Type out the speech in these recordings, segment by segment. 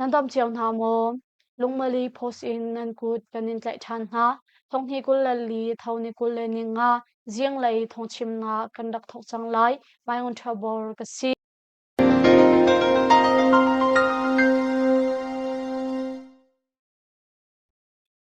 Nan dom cio hna maw? Lungmali post in nan kut kan in tlaih ṭhan hna. Thonghi kul le li thoni kul le ni nga zinglei thongchimnak kan rak thok cang lai. Mai ngun ṭha bor ka si.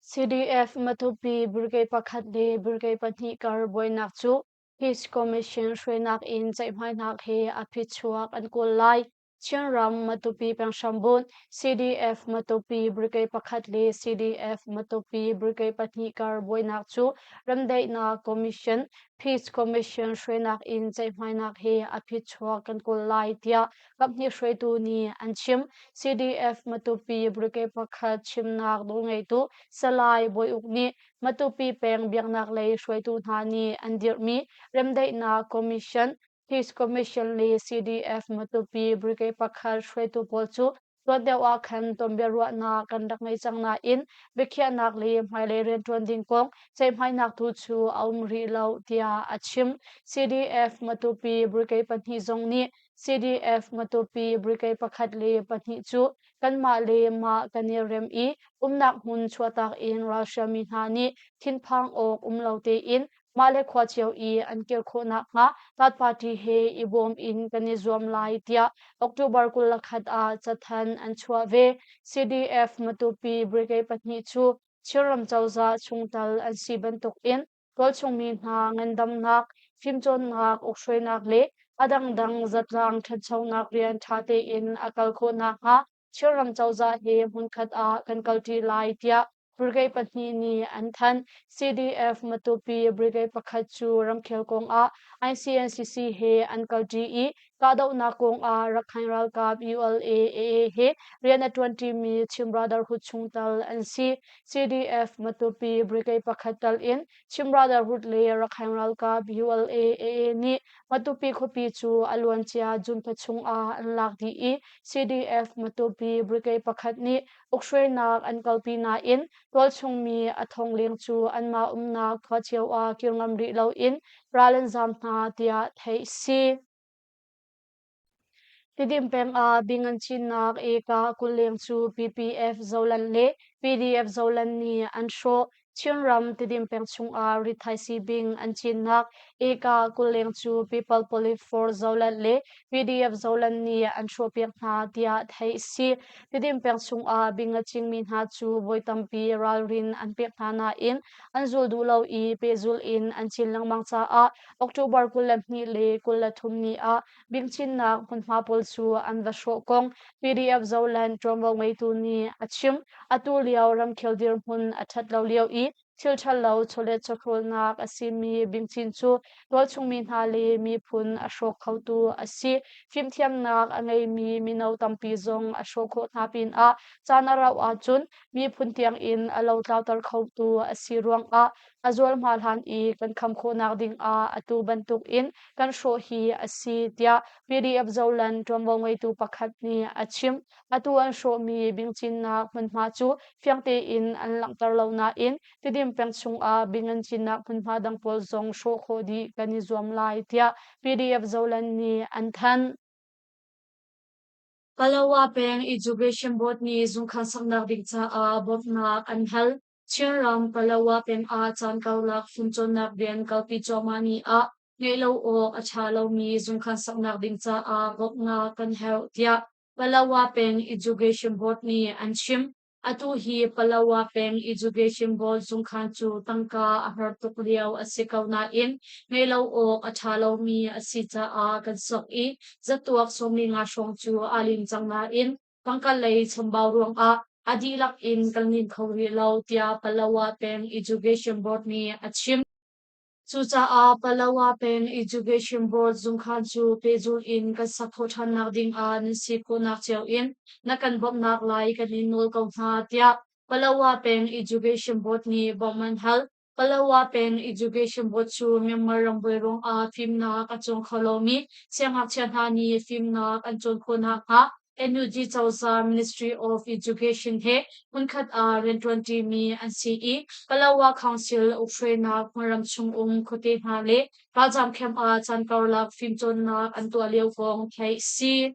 CDF Matupi Brigade pakhat le Brigade pahnih kar buainak cu Peace Commission hruainak in ceihmainak he a phichuak an kawl lai. Chinram Matupi penghrambun CDF Matupi Brigade pakhat le CDF Matupi Brigade pahnih kar buainak cu Remdaihnak Commission Peace Commission hruainak in ceihmainak he a phichuak kan kawl lai tiah kaphnih hruaitu nih an chim. CDF Matupi Brigade pakhat chimnak nawlngeitu Salai Bawi Uk nih Matupi peng biaknak lei hruaitu hna nih an dirhmi Remdaihnak Commission, Peace Commission le CDF Matupi Brigade pakhat hruaitu pawl cu tuan deuh ah khan tonbiaruahnak kan rak ngei cang nain biakhiahnak le hmailei rianṭuan ding kong ceihmainak tu cu a um rih lo, tiah a chim. CDF Matupi Brigade pahnih zong nih CDF-Matupi brigade pakhat le pahnih cu kanmah le mah kan i rem i umnak hmun chuahtak in Russia mi hna nih thinphang awk um lo tein mah le khua cio i an kir khawh nakhnga Third Party he i bawm in kan i zuam lai tiah October kul le khat ah cathanh an chuah ve. CDF-Matupi brigade pahnih cu Chin ram cozah chungtel an si bantuk in Tualchungmi hna ngandamnak, fimcawnnak, ukhruainak le a dangdang zatzaang ṭhanchonak rian ṭha tein a kal khawh nakhnga Chinram cozah he hmunkhat ah kan kalṭi lai tiah brigade pahnih nih an thanh. CDF Matupi brigade pakhat cu ramkhel kong ah ICNCC he an kalṭi i Kahdohnak kongah Rakhine ralkap ULA AA he rian a ṭuanṭimi Chin Brotherhood chung tal an si. CDF Matupi brigade pakhat tal in Chin Brotherhood le Rakhine ralkap ULA AA nih Matupi khuapi cu a luancia June chung ah an lak dih i CDF Matupi brigade pakhat nih ukhruainak an kalpi nain Tualchungmi a thongleng cu anmah umnak khua cio ah kir ngam rih loin ral an zam hna tiah theih a si. Tidin pengah bing an cinnak eka kulleng cu PPF Zoland le PDF Zoland nih an hrawh. Chinram Tidin peng chungah rithaisii bing an cinnak eka kulleng cu People Police for Zoland le PDF Zoland nih an chuahpiak hna tiah theih a si. Tidim peng chungah bing a cingmi hna cu voi tampi ralrin an pek hna nain an zul duh lo i pehzulh in an cin lengmang caah October kul le hnih le kul le thum ni ah bingchinnak hmunhma pawl cu an va hrawh kong PDF Zoland ṭuanvo ngeitu nih a chim. Atu lio ramkhel dirhmun a ṭhat lo lio i thil ṭhalo chawlet chawhrawlnak a simi bingcin cu tualchungmi hna le miphun a hrawk khotu a si. Fimthiamnak a ngeimi mino tampi zong a hrawh khawh hna pinah caan a rauh ahcun miphun tiangin a lotlauter khotu a si ruangah a zualhma hlan i kan kham khawhnak dingah atu bantukin kan hrawh hi a si tiah PDF Zoland ṭuanvo ngeitu pakhat nih a chim. Atu an hrawhmi bingcinnak hmunhma cu fiang tein an langhter lo nain Tedim peng chungah bing an cinnak hmunhma dang pawl zong hrawh khawh dih kan i zuam lai tiah PDF Zoland nih an thanh. Palawa peng Education Board nih zungkhan saknak ding caah bawmhnak an hal. Chinram Palawa peng ah caan karlak fimcawnnak rian kalpi cuahmah ni ah ngeih lo awk a ṭha lomi zungkhan saknak ding caah bawmhnak kan herh tiah Palawa peng Education Board nih an chim. Atu hi Palawa peng Education Board zungkhan cu tangka a har tuk lio a si ko nain ngei lo awk a ṭha lomi a si caah kan sok i zatuak sawmi nga hrawng cu aa lim cang nain pangkalei chambau ruangah a dihlak in kan lim kho rih lo tiah Palawa peng Education Board nih a chim. Cucaah Palawa peng Education Board zungkhan cu pehzul in kan sak khawh ṭhannak dingah nan si khawhnak cio in na kan bawmhnak lai kan in nawl ko hna tiah Palawa peng Education Board nih bawmh an hal. Palawa peng Education Board cu Myanmar rambuai ruangah fimnak a cawng kho lomi siangngakchia hna nih fimnak an cawn khawh nakhnga NUG Cozah Ministry of Education he hmunkhat ah rianṭuanṭi mi an si i Palawa Council ukhrainak hmunram chung um khuate hna le ralzaam camp ah caan karlak fimcawnnak an tuah lio kong theih si.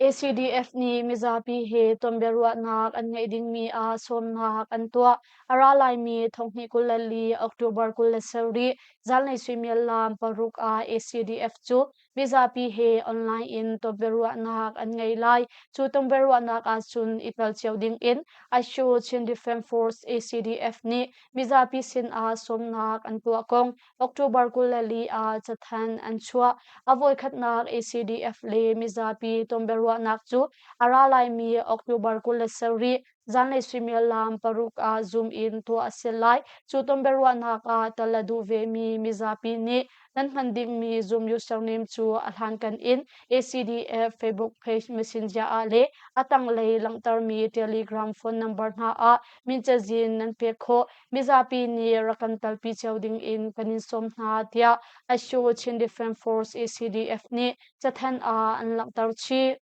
ACDF nih mizapi he tonbiaruahnak an ngeih dingmi ah sawmnak an tuah. A ra laimi thonghnih kul le li October kul le sarih zanlei suimiallam paruk ah ACDF cu Mizapi he online in tonbiaruahnak an ngei lai. Cu tonbiaruahnak ahcun i tel cio dingin ICAO Chin Defence Force ACDF nih mizapi sinah sawmnak an tuah kong October kul le li ah cathanh an chuah. A voikhatnak ACDF le mizapi tonbiaruahnak cu a ra laimi October kul le sarih Zanlei suimilam paruk ah zoom in tuah a si lai. Cu tonbiaruahnak ah tel a duh vemi mizapi nih nan hman dingmi Zoom username cu a hlankan in ACDF Facebook page messenger ah le a tanglei langhtermi Telegram phone number hna ah min cazin nan pek khawh. Mizapi nih rak kan talpi cio ding in kan in sawm hna tiah Asho Chin Defence Force ACDF nih cathanh ah an langhter chih.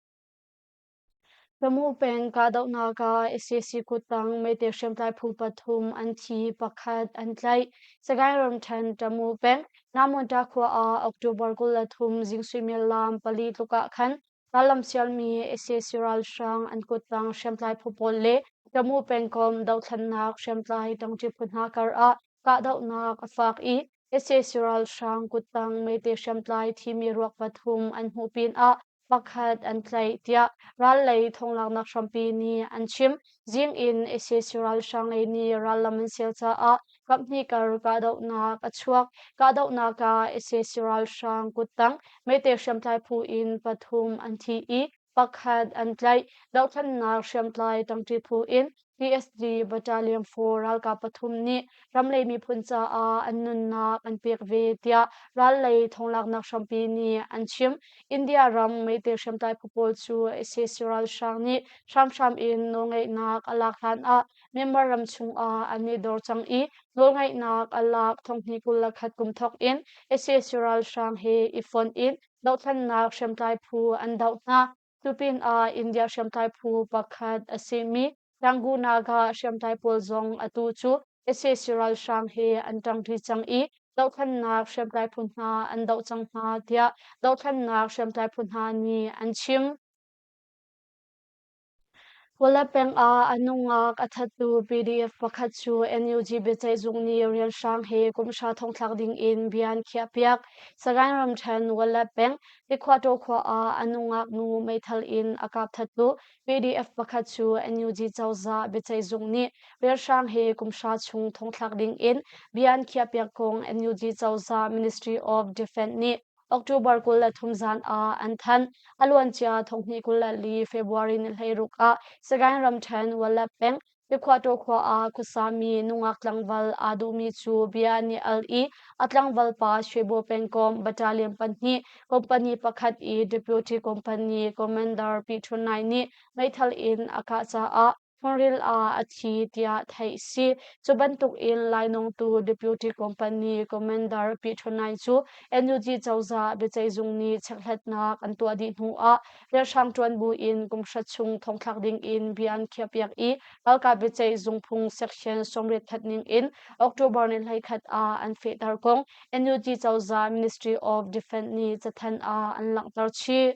Lamu peng kahdohnak ah Assisi kuttang meite hriamtlai phu pathum an thi, pakhat an tlaih. Sagaing ramṭhen Tamu peng Namunta khua ah October kul le thum zing suimilam pali tluk ah khan tarlamsialmi Assisi ralhrang an kuttang hriamtlai phu pawl le Tamu pengkom dohthlennak hriamtlai tangṭi phu hna kar ah kahdohnak a fak i Assisi ralhrang kuttang meite hriamtlai thimi ruak pathum an hmuh pinah pakhat an tlaih, tiah ral lei thonglaknak hrampi nih an chim. Zing in ISIS ralhrang lei nih rallam an sial caah kaphnih kar kahdohnak a chuak. Kahdohnak ah ISIS ralhrang kuttang meite hriamtlai phu in pathum an thi i pakhat an tlaih. Dohthlennak hriamtlai tangṭi phu in PSD Battalion 4 ralkap pathum nih ramlei miphun caah an nunnak an pek ve tiah rallei thonglaknak hrampi nih an chim. India ram meitei hriamtlai phu pawl cu sac ralhrang nih hramhram in nawlngeihnak a lak hlan ah Myanmar ram chungah an i dor cang i nawlngeihnak a lak thonghni kul le khat kum thawk in sac ralhrang he i fonh in dohthlannak hriamtlai phu an doh hna. Cupinah India hriamtlai phu pakhat a simi Rangunaga hriamtlai pawl zong atu cu sac ralhrang he an ṭang ṭi cang i dohthlannak hriamtlai phu hna an doh cang hna tiah dohthlannak hriamtlai phu hna nih an chim. Kuala peng ah a nungak a thattu PDF pakhat cu NUG biaceihzung nih rianhrang he kumhra thongthlak dingin bia an khiahpiak. Sagaing ramthen Kuala peng Tikhuaṭaw khua ah a nungak nu meithal in a kap thattu PDF pakhat cu NUG cozah biaceihzung nih rianhrang he kumhra chung thongthlak dingin bia an khiahpiak kong NUG cozah Ministry of Defence nih October kul le thum zan ah an thanh. A luancia thonghnih kul le li February ni hleiruk ah Sagaing ramṭhen Walat peng Pyekhawtaw khua ah khuasami nungak tlangval aa duhmi cu bia an i al i a tlangval pa Shwebo pengkom battalion pahnih company pakhat i deputy company commander P29 nih meithal in a kah caah Faril ah a thi tiah theih a si. Cu bantuk in lainawng tu deputy company commander Piṭhunai cu NUG cozah biaceihzung nih checkhlatnak an tuah dih hnu ah rialhrang ṭuan buin kumhra chung thongthlak ding in bia an khiahpiak i ralkap biaceihzung phung section sawmriat khat ning in October ni hleikhat ah an fehter kong NUG cozah Ministry of Defense nih cathanh ah an langhter chih.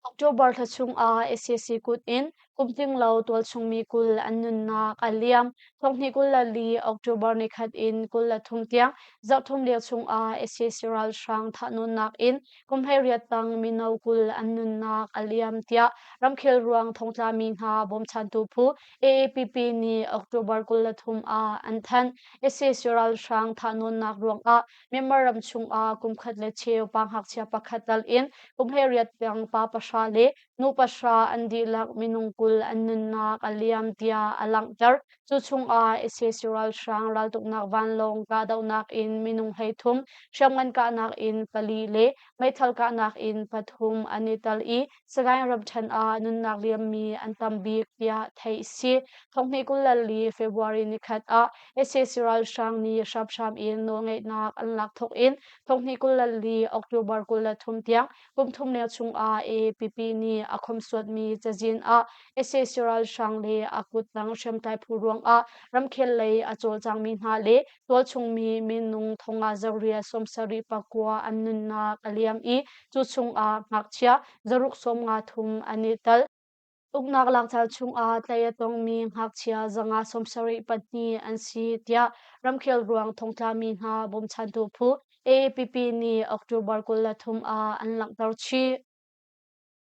October thla chungah SAC kut in kum tlinglo tualchungmi kul an nunnak a liam. Thonghnih kul le li October ni khat in kul le thum tiang zarhthum lio chungah SAC ralhrang thahnawnnak in kumhlei riattang mino kul an nunnak a liam tiah ramkhel ruang thongtlami hna bawmchantu phu AAPP nih October kul le thum ah an thanh. SAC ralhrang thahnawnnak ruangah Myanmar ram chungah kumkhat le cheu pa ngakchia pakhat dal in kumhleiriat peng pa pahra le nu pahra an dihlak minung kul an nunnak a liam tiah a langhter. Cu chungah ICC ralhrang raltuknak vanlawng kahdohnak in minung hleithum, hriamngan kahnak in pali le meithal kahnak in pathum an i tel i Sagaing ramṭhen ah nunnak liammi an tam bik tiah theih a si. Thonghnih kullal li February nikhat ah sac ralhrang nih hramhram in nawlngeihnak an lak thawk in thonghnih kullal li October kul le thum tiang kum thum leng chung ah APP nih a khomsuatmi cazin ah sac ralhrang le a kuttang hriamtlai phu ruang ah ramkhel lei a cawlcangmi hna le Tualchungmi minung thongah zarua sawm sarih pakua an nunnak a liam i cu chungah ngakchia zaruk sawm nga thum an i tel. Uknak lakcaan chungah tlei a tongmi ngakchia zanga sawm sarih pahnih an si tiah ramkhel ruang thongtlami hna bawmchantu phu AAPP nih October kul le thum ah an langhter chih.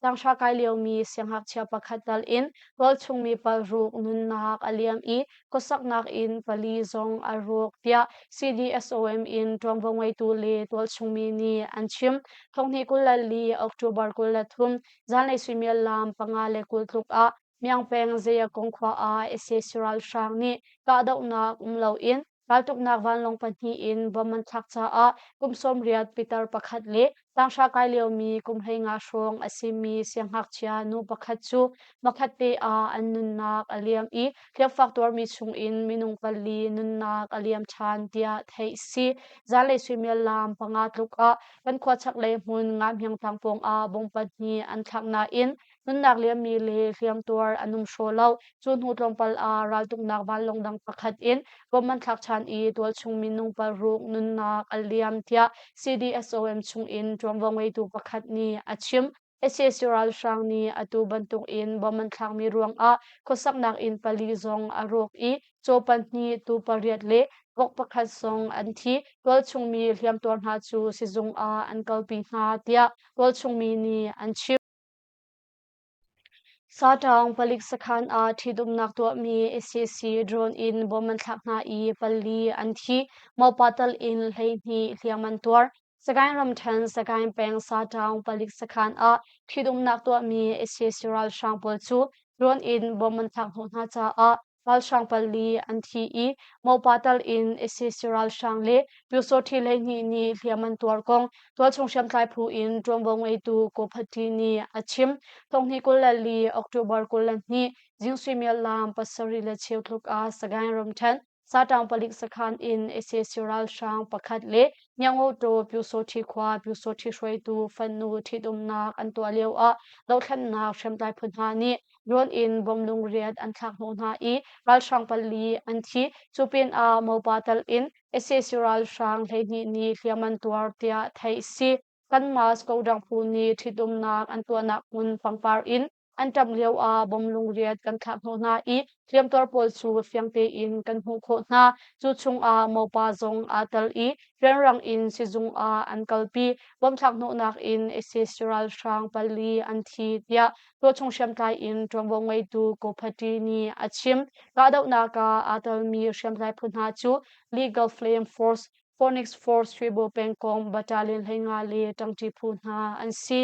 Tanghra kai liomi siangngakchia pakhat tal in rawlchungmi palruk nunnak a liam i khuasaknak in pali zong a ruk tiah CDSOM in ṭuanvo ngeitu le tualchungmi nih an chim. Thonghni kul le li October kul le thum zanlei suimiallam panga le kul tluk ah Myang Peng Zaya kong khua ah sac ralhrang nih kahdohnak um loin Raltuknak vanlawng pahnih in bom an thlak caah kum sawmriat pitar pakhat le tanghra kai liomi kum hleinga hrawng a simi sianghngakchia nu pakhat cu makhat te ah an nunnak a liam i hliamfak tuarmi chungin minung pali nunnak a liam ṭhan tiah theih a si. Zanlei suimiallam panga tluk ah kan khua chaklei hmun Nga Hmyang Tlang pawng ah bom pahnih an thlak nain Nunnak liammi le hliamtuar an um hraw lo. Cu hnu tlawmpal ah raltuknak vanlawng dang pakhat in bawmh an thlak ṭhan i tualchung minung paruk nunnak a liam tiah CDSOM chungin ṭuanvo ngeitu pakhat nih a chim. sac ralhrang nih atu bantuk in bom an thlakmi ruangah khuasaknak inn pali zong a rawk i caw pahnih tu pariat le vok pakhat zong an thi. Tualchungmi hliamtuar hna cu sizung ah an kalpi hna tiah tualchungmi nih an chim. Saṭang palik sakhan ah ṭhitumnak tuahmi SAC drone in bom an thlak hna i pali an thi, mawpa tal in hleihnih hliam an tuar. Sagaing ramṭhen Sagaing peng Saṭang palik sakhan ah ṭhitumnak tuahmi SAC ralhrang pawl cu drone in bom an thlak hnawh hna caah Ralhrang pali an thi i Mopa tal in ISIS ralhrang le Pyusawhti hleihnih nih hliam an tuar kong tualchung hriamtlai phu in ṭuanvo ngeitu Kophatli nih a chim. Tonghnih kul le li October kul le hnih Zing suimiallam pasarih le cheu tluk ah Sagaing ramṭhen saṭang palik sakhan in ISIS ralhrang pakhat le Nyangoto Pyusawhti khua Pyusawhti hruaitu fannu ṭhitumnak an tuah lio ah dohthlennak hriamtlai phu hna nih Nawn in bom lungriat an thlak hnawh hna i ralhrang pali an thi. Cu pinah mopa tal in sac ralhrang hleihnih nih hliam an tuar tiah theih a si. Kanmas Kodang phu nih ṭhitumnak an tuahnak hmun pangpar in an ṭamh lioah bom lungriat kan thlak hnawh hna i hliamtuar pawl cu fiang tein kan hmuh khawh hna. Cu chungah mopa zong aa tel i rianrang in sizung ah an kalpi. Bom thlak hnawhnak in sac ralhrang pali an thi tiah tuahchung hriamtlai in ṭuanvo ngeitu Ko Phati nih a chim. Kahdohnak ah aa telmi hriamtlai phu hna cu Legal Flame Force, Phoenix Force Shuibo pengkong battalion hlei nga le ṭangṭi phu hna an si.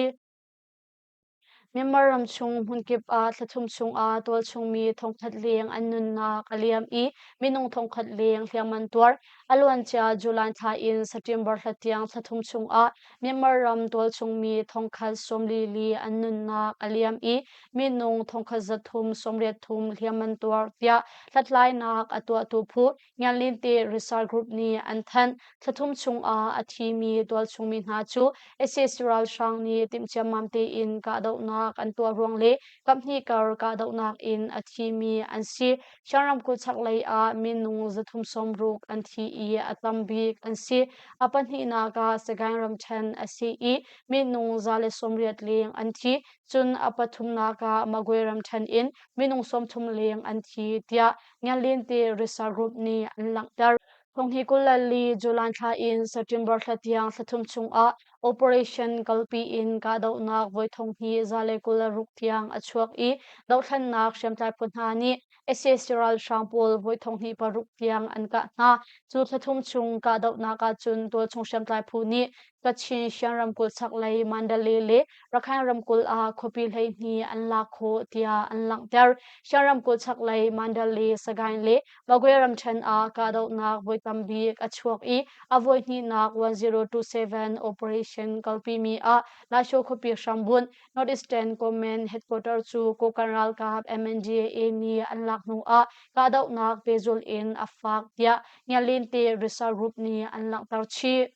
Myanmar ram chung hmunkip ah thlathum chungah tualchungmi thongkhat leng an nunnak a liam i minung thongkhat leng hliamman tuar. A luancia July thla in September hla tiang thlathum chungah Myanmar ram tualchungmi thongkhat sawmlili an nunnak a liam i minung thongkhat zathum sawmriathum hliam an tuar tiah hlathlainak a tuahtu phu Nganlinte Research Group nih an thanh. Thlathum chungah a thimi tualchungmi hna cu SS ralhrang nih timh ciammam tein kahdohnak an tuah ruang le kaphnih kar kahdohnak in a thimi an si. Shan ramkulh chaklei ah minung zathum sawmruk an thi i a tambik an si. A pahnihnak ah Sagaing ramṭhen a si i minung za le sawmriat leng an thi, cun a pathumnak ah Magway ramṭhen in minung sawmthum leng an thi tiah Nganlinte Research Group nih an langhter. Thong hi kul le li July thla in September thla tiang thla thum chungah operation kalpi in kahdohnak voi thong hi za le kul le ruk tiang a chuak i dohthlennak hriamtlai phu hna nih sac ralhrang pawl voi thong hnih paruk tiang an kah hna. Cu thla thum chung kahdohnak ahcun tualchung hriamtlai phu nih Kachin Shan ramkulh chaklei Mandalay le Rakhine ramkulh ah khuapi hleihnih an lak khawh tiah an langhter. Shan ramkulh chaklei Mandalay, Sagaing le Magway ramthen ah kahdohnak voi tambik a chuak i a voi hnihnak 1027 operation kalpimi ah Laisho khuapi hrambunh Northeastern Komen headquarter cu Kokan ralkap MNDAA nih an lak hnu ah kahdohnak pehzulh in a fak tiah Ngialinte Research Group nih an langhter chih.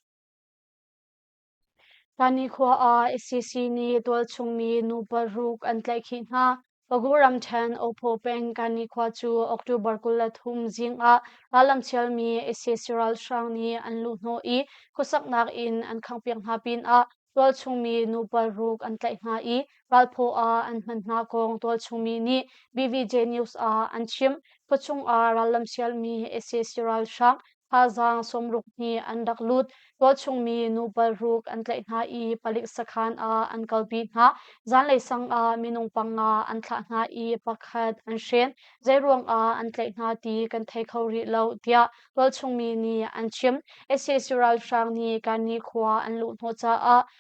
Thani khua ah ICC nih tualchungmi nu paruk an tlaihkhih hna. Fagu ramṭhen Ophaw peng Kani khua cu October kul le thum zing ah rallamchialmi sac ralhrang nih an luhhnawh i khuasaknak in an khanghpiak hna pinah tualchungmi nu paruk an tlaih hna i Ralphaw ah an hman hna kong tualchungmi nih BVJ News ah an chim. Khuachung ah rallamchialmi sac ralhrang thazaang sawmruk hnih an rak lut. Tualchungmi nu palruk an tlaih hna i palik sakhan ah an kalpi hna. Zanlei sang ah minung panga an thlah hna i pakhat an hrin. Zeiruangah an tlaih hna ti kan thei kho rih lo, tiah tualchungmi nih an chim. sac ralhrang nih Kanni khua an luh hnawh caah